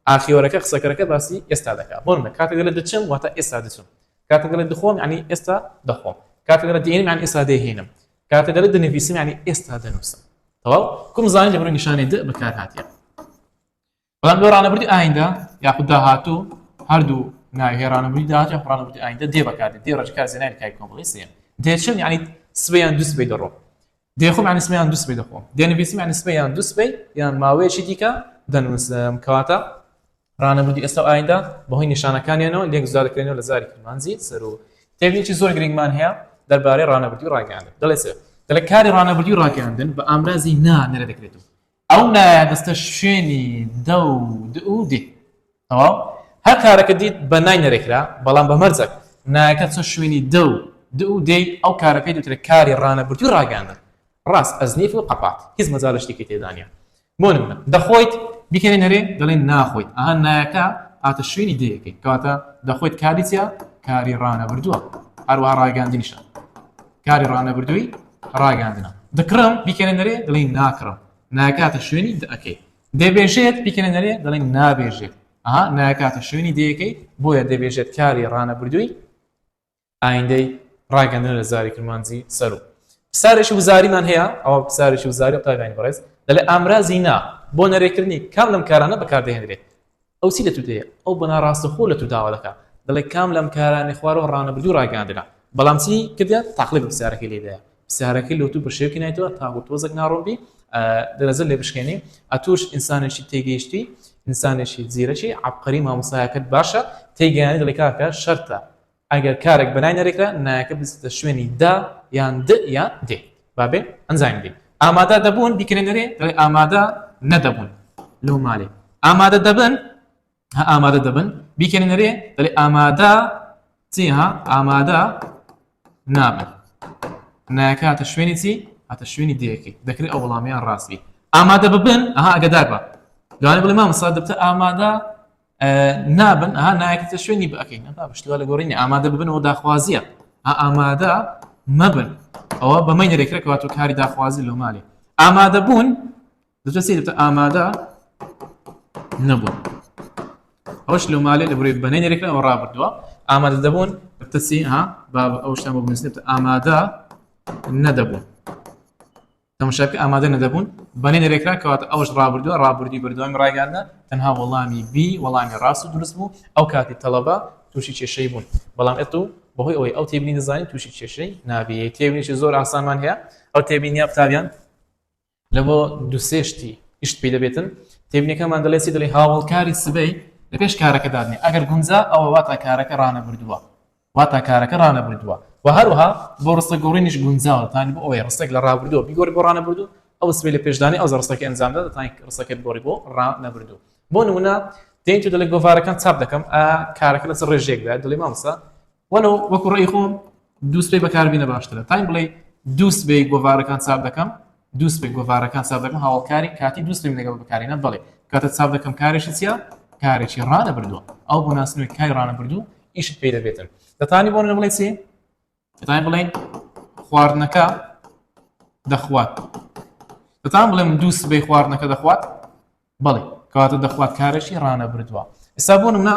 S1: ئاخیوەرەکە، قسەکەرەکە باسی ئێستا دەکا. بۆ نمونە کاتێک دەلێ دچم واتە ئێستا دچم. کاتێک دەلێ دخۆم یانی ئێستا دەخۆم. کاتێک دەلێ دینم یانی ئێستا دێهینم. کاتێک دەلێ دنڤیسم یانی ئێستا دەنوسم. تەواو؟ کوم زانی لە بەرەو نیشانەی د بەکار هاتیە. بەڵام لۆ ڕانەبردی ئایندە یاخود داهاتوو هەردوو ناوی هەیە ڕانەبردی داهات یاخود ڕانەبردی ئایندە دێ بەکاردێ دێ ڕێژکار زێنای کای کۆمەڵی سێ دێچم یعنی سبەی یان دوو سبەی دەڕۆ دێخۆم یعنی سبەی یان دوو سبەی دەخۆم دێنویسم یعنی سبەی یان دوو سبەی یان ماوەیەکی دیکە دەنووسم کەواتە ڕانەبردی ئێستا و ئایندە بەهۆی نیشانەکانیانەوە لێک زیاد دەکرێنەوە لە زاری کرمانجی سەر و تێبینێکی زۆر گرنگمان هەیە دەربارەی ڕانەبردی و ڕاگەیاندن دەڵێ سێ دەڵێ کاری ڕانەبردی و ڕاگەیاندن بە ئامرازی نا نەرە دەکرێتەوە ئەو نایە دەستە شوێنی دە و د و دێ تەواو هەر کارەکە دیت بە نای نەرێ کرا بەڵام بە مەرجەک نایەکە چۆ شوێنی دە و د و دێی ئەو کارە پێی دوترێ کاری ڕانەبردوی ڕاگەیاندن ڕاست ئەز نیف و قەپات هیچ مەجال شتێکی تێدا نیە بۆ نمونە دەخۆیت بیکەنێ نەرێ دەڵێن ناخۆیت ئەها نایەکە هاتە شوێنی دێیەکەی کەواتە دەخۆیت کاری چیە کاری ڕانەبردوە هەروەها ڕاگەیاندنیشە. کاری ڕانەبردووی ڕاگەاندنە دکڕم بیکەێ نەرێ دڵی ناکڕم ناکاتە شوێنی دەکەی دەبێژێت بیکەێ نەرێ دڵی نابێژێت ئەها ناکاتە شوێنی دەیەکەی بۆیە دەبێژێت کاری ڕانەبردووی ئایندەی ڕاگەندن لە زاری کرمانجی سەر و پسارێکی وزاریمان هەیە ئەوە پسارێکی وزاری قاگانی بەڕێز دەڵێ ئامرازی نا بۆ نەرێکردنی کام لەم کارانە بەکاردەهێنرێت ئەو چی لە تو دەیە؟ ئەو بە ناڕاستەخۆ لە تو داوا دەکا، دەڵێ کام لەم کارانەی خوارەوە ڕانەبردووی ڕاگەیاندرا؟ بەڵام چی کردیە؟ تاقلبی پرسیارەکەی لێ دایە. پرسیارەکەی لۆ تو بە شێوکی نایتەوە تاکو تۆزەک ناڕوون بی، درەزەت لێ بشکێنی. ئەتوش ئینسانێکی تێگەیشتوی، ئینسانێکی زیرەکی، عەبقەری مامۆستایەکەت باشە، تێیگەیاندی دەڵێ کاکە شەرتە ئەگەر کارەک بەلای نەرێکرا نایەکە بچێتە شوێنی دا یان د یان دێ با بێ ئەنجامی دێ ئامادە دەبوون بیکرێ نەرێ دەڵێ ئامادە نەدەبوون لەو مالێ ئامادە دەبن ئامادە دەبن بیکەێ نەرێ دەڵێ ئامادە چیها ئامادە نابن نایەکە هاتە شوێنی چی هاتە شوێنی دەیەکەی دەکرێت ئەو وڵامیان ڕاستبی ئامادە ببن ئەها ئەگەدار بە دوانێ بڵێ مامەسا دەبتە ئامادە نابن ها نایکتە شوێنی بەکەین ئەدا بشتوا لە گۆڕینی ئامادە ببنەوە داخوازیە ئامادە مەبن ئەوە بەمەی نرێکرێکەوەات و کاری داخوازی لۆ مالێ ئامادە بوون دەسیتە ئامادە نەبوون ئەوش لە مالێ لە بری بەنەی نرێکەوە ڕابردووە ئامادە دەبوون بتەسی ها با ئەوشتان بۆ بنووسێت ئامادە نەدەبوون تەماشاکە ئامادە نەدەبوون بەنێ دەرێکرا کەواتە ئەوش ڕابردووە ڕابردی بەردەوامی ڕایگاندا تەنها وەڵامی بی وەڵامی ڕاست و دروست بوو ئەو کاتی تەڵەبە تووشی کێشەی بوون بەڵام ئێت و بەهۆی ئەوەی ئەو تێبینی دەزانین تووشی کێشەی نابێت تێبینێکی زۆر ئاسانمان هەیە ئەو تێبینی قوتابیان لە بۆ دوسێشتی گشت پێ دەبێتن تێبینەکەمان دەڵێ چی دەڵێ هاوڵکاری سبەی لە پێش کارەکە دادنێ ئەگەر گونجا ئەوە واتا کارەکە ڕانەبردووە واتا کارەکە ڕانەبردووە و هەروەها بۆ ڕستە گۆڕینیش گونجاوە دەتوانیت بۆ ئەوەی ڕستەک لە ڕابردووەوە بیگۆڕی بۆ ڕانەبردوو ئەو سبەی لە پێشدانی ئەو جا ڕستەکە ئەنجامدا دەتوانیت ڕستەکە بگۆڕی بۆ ڕانەبردوو بۆ نمونە دێیت و دەڵێ گۆڤارەکان چاپ دەکەم ئا کارەکە لەسەر ڕێژێکدا دەڵێ مامسا وەلو وەکو ڕێی خۆم دوو سبەی بەکاربینە باشترە تایم بڵێ دوو سبەی گۆڤارەکان چاپ دەکەم دوو سپی گۆڤارەکان چاپ دەکەم هاوڵکاری کاتی دوو سپیم لەگەڵ بکارێنە بەڵێ کاتە چاپ دەکەم کارێکی چیە کارێکی ڕانە بردووە ئەو بۆ ناسنەوەی کاری ڕانە بردوو ئیشت پێ دەبێتن دەتانی بۆ بڵێ چی دەتانی بڵێن خواردنەکە دەخوات دەتان بڵێم دوو سبەی خواردنەکە دەخوات بەڵێ کەواتە دەخوات کارێکی ڕانە بردووە ئستا بۆ منە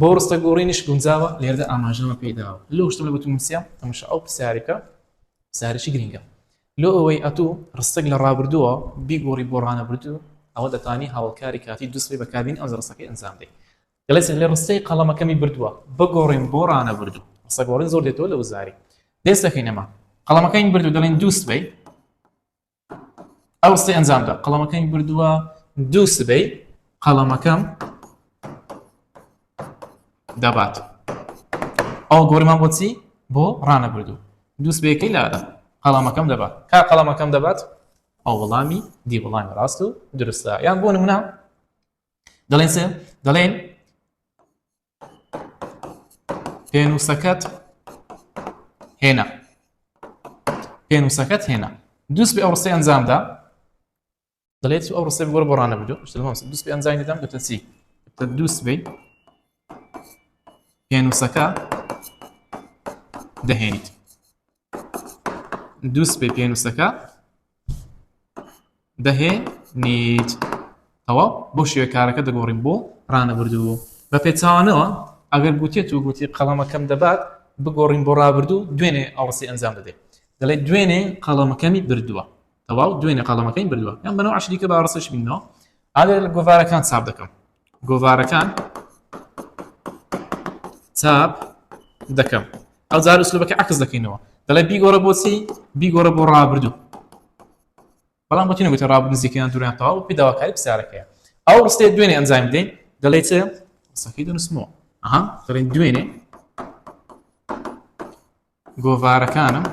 S1: بۆ ڕستە گۆڕینیش گونجاوە لێردا ئاماژەمە پێی داوە لۆ شتم لە گوتم نووسیام تەمەشا ئەو پرسیارێکە پرسیارێکی گرنگە لۆ ئەوەی ئەتوو ڕستەک لە ڕابردووە بیگۆڕی بۆ ڕانەبردوو ئەوە دەتانی هاوڵکاری کاتی دووسبەی بەکاربین ئەو ڕستەکەی ئەنجام دەی دەڵێت لە ڕستەی قەڵەمەکەمی بردووە بگۆڕین بۆ ڕانەبردوو ڕستە گۆڕین زۆر دێتەوە لە وزاری دێستەکەینەما قەڵەمەکەین بردو دەڵێن دووسبەی ئاوەستەی ئەنجامدا قەڵەمەکەمی بردووە دوو سبەی قەڵەمەکەم دەبات ئەو گۆرمان بۆچی بۆ ڕانە بردو دوو سبەیەکەی لادا قەڵەمەکەم دەبات کا قەڵەمەکەم دەبات ئەو وەڵامی دی وەڵامی ڕاست و درستە یان بۆ نمونە دەڵێن سێ دەڵێن پێنووسەکەت هێنا پێنووسەکەت هێنا دوست بە ئەو ڕستی ئەنجامدا دەڵێت ئەو ڕستی بگۆڕ بۆ ڕانە بدو دوست بە ئەنجامی دەدەم دەتە چی دوست بی پێنووسەکە دەهێنیت دوو سپی پێنووسەکە دەهێ نیت ئەوە بۆ شێوە کارەکە دەگۆڕین بۆ ڕانەبردوو بە پێچوانەوە ئەگەر گوتێت و گوتی قەڵەمەکەم دەبات بگۆڕین بۆ ڕابردوو دوێنێ ئاڵسی ئەنجام دەدەێت دەڵێت دوێنێ قەڵەمەکەمی بردووە تەواو دوێنێ قەڵەمەکەی بردووە یان بەەوە عشریکە باڕسش بینەوە ئاێ لە گۆڤارەکان ساب دەکەم گۆڤارەکان چاپ دەکەم ئەو جار سلوبەکە عکس دەکەینەوە دەڵێ بیگۆڕە بۆچی بیگۆڕە بۆ ڕابردوو بەڵام بۆ تینەگوتە ڕاب نزیکیان دووران تەواو پیداواکاری پسارەکەیە ئەو ڕستێ دوێنێ ئەنجام بدەین دەڵێ چ سەفی دەنووسمەوە ئەها دەڵێن دوێنێ گۆڤارەکانم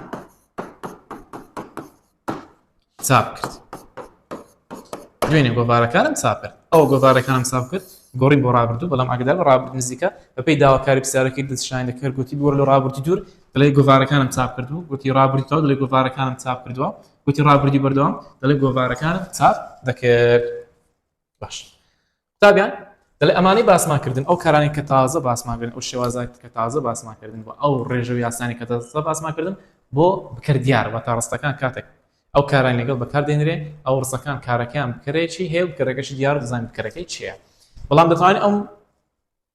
S1: چاپ کرد دوێنێ گۆڤارەکانم چاپ کرد ئەو گۆڤارەکانم چاپ کرد گۆڕین بۆ ڕابردوو بەڵام ئەگەدار بە ڕابرد نزیکە بەپی داواکاری پرسیارەکەی دەستشانی دەکرد گوتی بۆر لە ڕابردی دوور دەڵێ گۆڤارەکانم چاپ کردو گوتی ڕابردی تاو دەڵێ گۆڤارەکانم چاپ کردووە گوتی ڕابردی بەردەوام دەڵێ گۆڤارەکانم چاپ دەکرد باش قوتابیان دەڵێ ئەمانەی باسمان کردن ئەو کارانەی کە تازە باسمان کردن ئەو شێوازات کە تازە باسمان کردن و ئەو ڕێژە و یاسانی کە تازە باسمان کردن بۆ بکەر دیار و تا ڕستەکان کاتێک ئەو کاران لەگەڵ بەکار دێنرێ ئەو ڕستەکان کارەکەیان بکەرێکی هەیە و بکەرەکەشی دیار دەزانین بکەرەکەی چیە بەڵام دەتوانین ئەم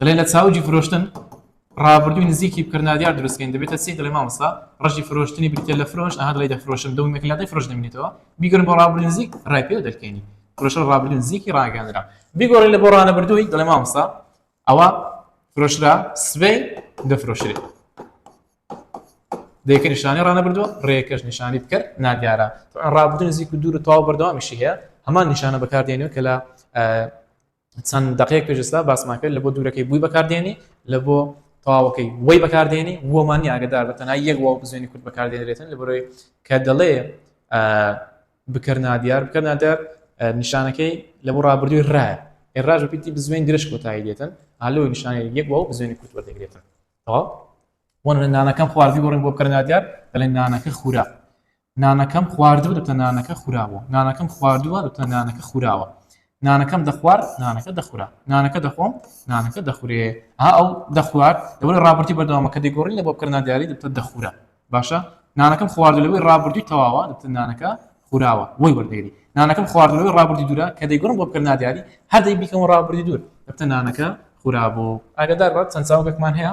S1: دەڵێ لە چاوجی فرۆشتن ڕابردووی نزیکی بکردنادیار دروستکەین دەبێتە سی دڵێ مامسا ڕژی فرۆشتنی بریتە لە فرۆش ئەها دڵی دەفرۆشم دەومێکلادی فرۆش دەمێنێتەوە بیگرن بۆ ڕابردوو نزیک ڕای پێ دەکەینی فرۆشە ڕابردوو نزیکی ڕاگەندرا بیگۆڕی لە بۆ ڕانە بردووی دڵێ مامسا ئەوە فرۆشرا سبەی دەفرۆشرێت دەکە نیشانی ڕانە بردووە ڕێکەش نیشانی بکرد نادیارە ڕابدن زیک و دوور و تاو بەردەوامیشی هەیە هەمان نیشانە بەکاردێنەوە کە لە چەند دەقەیەک پێش ئێستا باسمان کرد لە بۆ دوورەکەی بووی بەکاردێنی لە بۆ تەواوەکەی وەی بەکاردێنی وەمانی ئاگدار بە تەنای یەک واو بزوێنی کورد بەکاردێنرێتن لە بەرۆی کە دەڵێ بکەر نادیار بکە نادیار نیشانەکەی لە بۆ ڕابردووی ڕایە ئێراژ پیتی بزوێن درێژ کۆتایی دێتن هەلوی نیشانە یەک واو بزوێنی کورد وەردەگرێتن تەواو وەن نانەکەم خواردی گۆڕین بۆ بکەر نادیار دەڵێن نانەکە خورا نانەکەم خواردووە دەبتە نانەکە خوراوە نانەکەم خواردووە دەبتە نانەکە خوراوە نانەکەم دەخوار نانەکە دەخورا نانەکە دەخۆم نانەکە دەخورێ ها ئەو دەخوارد لەوەی ڕابرتی بەردەوامە کە دەگۆڕین لە بۆ بکردنا دیاری دەبتە دەخورا باشە نانەکەم خوارد لەوەی ڕابردوی تەواوە دەبتە نانەکە خوراوە وەی وەردەگری نانەکەم خوارد لەوەی ڕابردی دوورە کە دەیگۆڕم بۆ بکردنا دیاری هەر دەی بیکەم ڕابردی دوور دەبتە نانەکە خورابوو ئاگدار بە چەند چاوگەکمان هەیە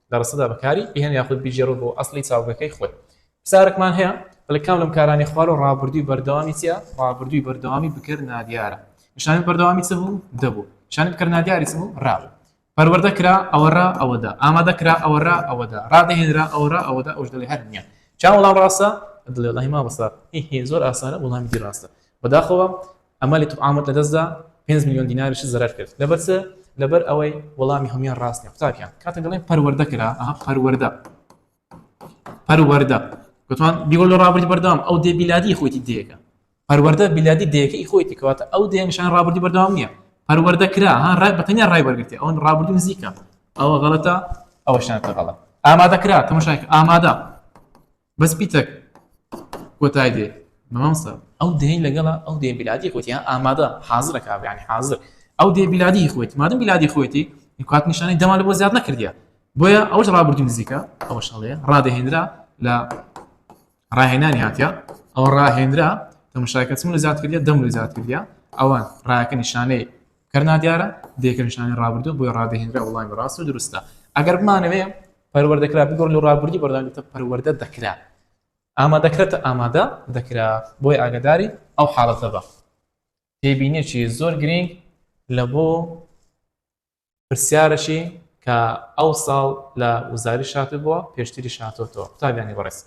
S1: لە ڕستەدا بەکاری بهێنە یاخود بیگێڕە بۆ ئەسڵی چاوگەکەی خۆی. پرسیارێکمان هەیە، دەڵێت کام لەم کارانەی خوارەوە ڕابردووی بەردەوامی چییە؟ ڕابردووی بەردەوامی بکەر نادیارە. نیشانەی بەردەوامی چ بوو؟ دە بوو. نیشانەی بکەر نادیاری چ بوو؟ ڕا بوو. پەروەردە کرا ئەوە ڕا ئەوە دە. ئامادە کرا ئەوە ڕا ئەوە دە. ڕادەهێنرا ئەوە ڕا ئەوە دە. ئەوش دەڵێ هەر نییە. کام وەڵام ڕاستە؟ دڵێ وەڵاهی مامۆستا هی هی زۆر ئاسانە وەڵامی دی ڕاستە. بەداخەوە ئەمە لە تبعامت لەدەستدا پێنج ملیۆن دیناریشت زەرەر کرد لەبەر چ لەبەر ئەوەی وەڵامی هەمویان ڕاستە قوتابیان کاتە دەڵێن پەروەردە کرا ئەها پەروەردە پەروەردە گوتوان بیگۆ لە ڕابردی بەردام ئەو دێ بیلادی خۆیتی دێکە پەروەردە بیلادی دێکەی خۆیتی کەواتە ئەو دێنشان ڕابردی بەردام نییە پەروەردە کرا ها ڕای بەتەنیا ڕای بەرگرتی ئەوەن ڕابردی نزیکە ئەوە غەڵەتە ئەوەشان تەغەڵە ئامادە کرا تەمەشاک ئامادە بەس پیتەک کۆتای دێ مامۆستا ئەو دێی لەگەڵا ئەو دێ بلادی خۆتیان ئامادە حاضرە کابیانی حاضر ئەو دێ بلادی خۆیت مادەم بلادی خۆیتی کات نیشانی دەمانە بۆ زیاد نەکردە بۆیە ئەوش ڕابردی نزیکە ئەوە شڵێ ڕادەهێنرا لە ڕاهێنانی هاتە ئەو ڕاهێنرا تەمشاکە چون لە زیاد کردە دەم لە زیاد کردە ئەوان ڕایەکە نیشانەی کەرنا دیارە دێکە نیشانی ڕابردو بۆی ڕادەهێنرا وڵامی ڕاست و دروستە ئەگەر بمانەوێ پەروەردە کرا بگۆڕ لە ڕابردوو بەردەوامێتە پەروەردە دەکرا ئامادەکرێتە ئامادە دەکرا بۆی ئاگداری ئەو حاڵەتە بە تێبینێکی زۆر گرنگ لە بۆ پرسیارەشی کە ئەو ساڵ لە وزاری شاتبووە پێشتری شاتۆتەوە قوتابیانی بەڕێز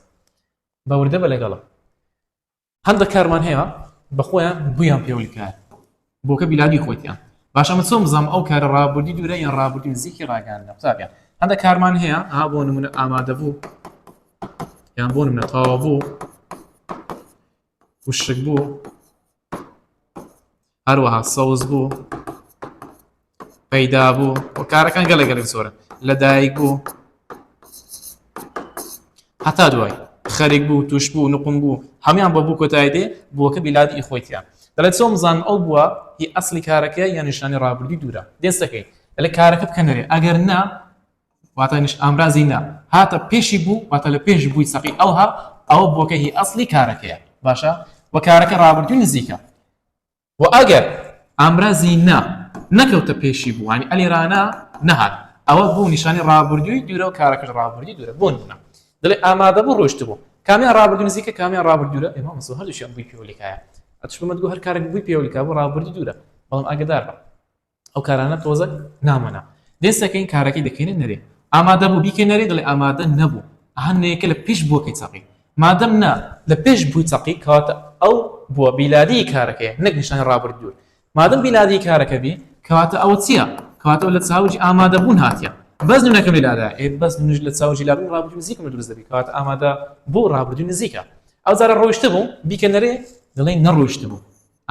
S1: بەوردە بە لەگەڵم هەندەک کارمان هەیە بە خۆیان بویان پێ ولکایە بۆکە بیلادی خۆیتیان باش ئەمە چۆن بزانم ئەو کارە ڕابوردی دوورە یان ڕابوردی نزیکی ڕاگەیان لە قوتابیان هەندە کارمان هەیە ئا بۆ نمونە ئامادە بوو یان بۆ نمونە تەواو بوو وشک بوو هەروەها سەوز بوو پەیدا بوو و کارەکان گەلە گەلێک زۆرە لەدایک بوو هەتا دوای خەرێک بوو توش بوو نقم بوو هەمان بە بوو کۆتای دێ بووەکە بیلادی ئی خۆیتیان دەڵێت چۆم زان ئەو بووە هی ئەسلی کارەکە یا نیشانی ڕابردی دوورە دێستەکەی لە کارەکە بکەنەرێ ئەگەر نا واتانیش ئامرازی نا هاتە پێشی بوو واتە لە پێش بووی سەقی ئەوها ئەوە بۆکە هی ئەسلی کارەکەیە باشە وە کارەکە ڕابردوی نزیکە و ئەگەر ئامرازی نا نەکەوتە پێشی بووانی ئەلی رانا نەهات ئەوە بوو نیشانی ڕابردووی دوورە و کارەکەش ڕابردی دوورە بۆ نمونە دەڵێ ئامادە بوو ڕۆشت بوو کامیان ڕابردوو نزیکە کامیان ڕابرد دوورە ئێمە مسۆ هەردووشیان بووی پێوەلیکایە ئەتشمەدگو هەر کارێک بووی پێوەلیکا بۆ ڕابردی دوورە بەڵام ئاگدار بە ئەو کارانە تۆزەک نامەنا دێ سەکەین کارەکەی دەکەینە نەرێ ئامادە بوو بیکە نەرێ دڵێ ئامادە نەبوو هەنێکە لە پیش بووەکەی چەقی مادەم نا لە پێش بووی چەقی کەواتە ئەو بووە بیلادی کارەکەی نەک نیشانی ڕابرد دوور مادەم بیلادی کارەکە بی کەواتە ئەوە چییە کەواتەوە لە چاوجی ئامادە بوون هاتیە بەس نونەکە بیلادا ئێ بەس نوش لە چاوجی لابوو ڕابردوو نزیکم لە دروست دەبی کەواتە ئامادە بوو ڕابردوو نزیکە ئەو جارە ڕۆیشتە بوو بیکە نەرێ دەڵێن نەڕۆیشت بوو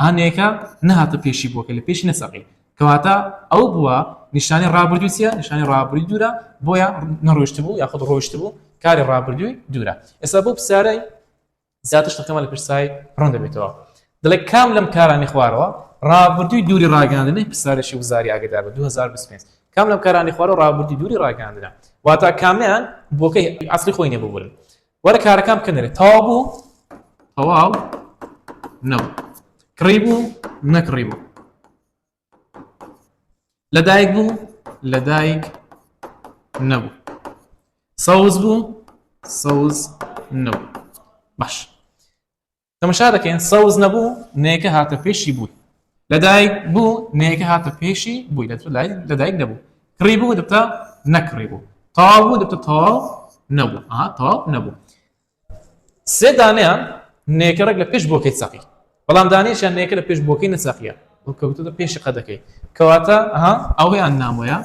S1: هەنێکە نەهاتە پێشی بووە کە لە پێشی نەسەقی کەواتە ئەو بووە نیشانی ڕابردووی چیە نیشانی ڕابردووی دوورە بۆیە نەڕۆشت بوو یاخود ڕۆشت بوو کاری ڕابردووی دوورە ئێستا بۆ پرسیارەی زیاتر شتەکەمان لە پرسای ڕوون دەبێتەوە دەڵێ کام لەم کارانی خوارەوە ڕابردووی دووری ڕاگەاندنی پرسیارێکی وزاری ئاگدار بە 2025 کام لەم کارانی خوارەوە ڕابردووی دووری ڕاگەاندنە واتا کامیان بۆکەی عسلی خۆی نێبوورن وەرە کارەکان بکەنەرێ تەواو بوو تەواو نەبوو کڕی بوو نەکڕی بوو لەدایک بوو لەدایک نەبوو سەوز بوو سەوز نەبوو باش تەمەشا دەکەین سەوز نەبوو نێکە هاتە پێشی بووی لەدایک بوو نێکە هاتە پێشی بووی لە لەدایک نەبوو کڕی بوو دەتە نەکڕی بوو تاڵ بوو دەتە تاڵ نەبوو ئا تاڵ نەبوو سێ دانیان نێکە ڕێک لە پێش بۆکەی سەقی بەڵام دانیشان نێکە لە پێش بۆکەی نەسەقیە کەوتە پێشی قە دەکەی کەواتە ئەوەیان نامۆیە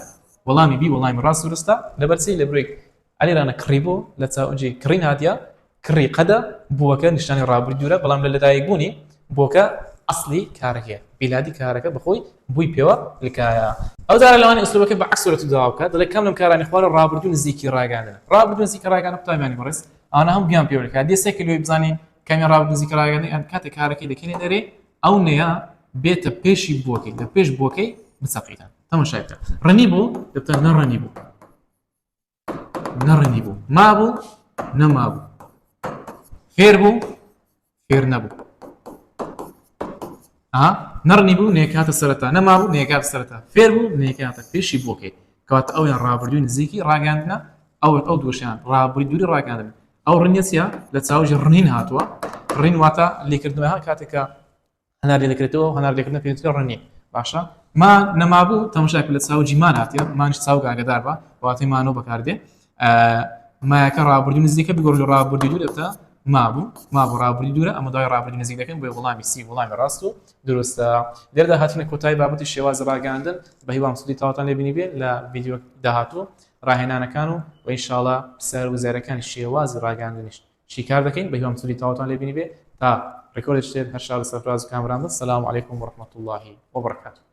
S1: وەڵامی بی وەڵامی ڕاست ورستە لەبەرسی لە برێک علی رانە کڕی بوو لە چاوجی کڕی نادیا کڕی قەدە بووەکە نیشتانی ڕابووی دوورە بەڵام لە لەدایک بوونی بۆکە ئەسلی کارەکە بیلادی کارەکە بەخۆی بووی پێوە لکایە ئەو جارە لەوانی ئسلوبەکە بە عکسورەت داوکە دەڵێ کەم لەم کارانی خوارە ڕابردوو نزیکی ڕاگەاندن ڕابردوو نزیکە ڕاگەانە قوتابیانی بەڕێز ئانا هەم گیان پێوە لکات دێسێک لێ بزانین کەمی ڕاو نزیکە ڕاگەانی ئەم کاتە کارەکەی دەکەێ دەرێ ئەو نەیە بێتە پێشی بۆکەی لە پێش بۆکەی بسەقیتان تەمەشای بکە ڕنی بوو دەتە نەڕەنی بوو نەڕەنی بوو مابوو نەمابوو فێر بوو فێر نەبوو نەڕنی بوو نێکاتە سەرتا نەمابوو نێکات سەرتا فێر بوو نێکاتە پێشی بۆکەی کات ئەویان ڕابردووی نزیکی ڕاگەاندنە ئەو ئەو دوشیان ڕابری دووری ڕاگەاندن ئەو ڕنیەسیە لە چاوژی ڕنین هاتووە ڕین واتە لێکردنەوە کاتێکە هەنار لێ دەکرێتەوە و هەنار لێکردنە پێوترێ ڕەنی باشە ما نەمابوو تەمەشاک لە چاوجی مان هاتیە مانش چاو گاگەدار بە واتەی مانەوە بەکاردێ مایەکە ڕابردی نزیکە بگۆژ ڕابردی دوو دەبتە مابوو مابوو ڕابردی دوورە ئەمە دوای ڕابردی نزیک دەکەن بۆی وڵامی سی وڵامی ڕاست و دروستە لێردا هاتنە کۆتایی بابەتی شێواز ڕاگەاندن بە هیوام سودی تاوتان لێبینی بێت لە ڤیددیو داهاتوو ڕاهێنانەکان و وەیشاڵە سەر وزارەکان شێوازی ڕاگەاندنیشت شیکار دەکەین بەهیوام سودی تەواوتان لێ بینیبێ تا ڕیکۆردێکی تر هەر شاد و سەرفراز و کامەران بن سلام علیکم و رحمەتوڵڵاهی وبرکاتوه.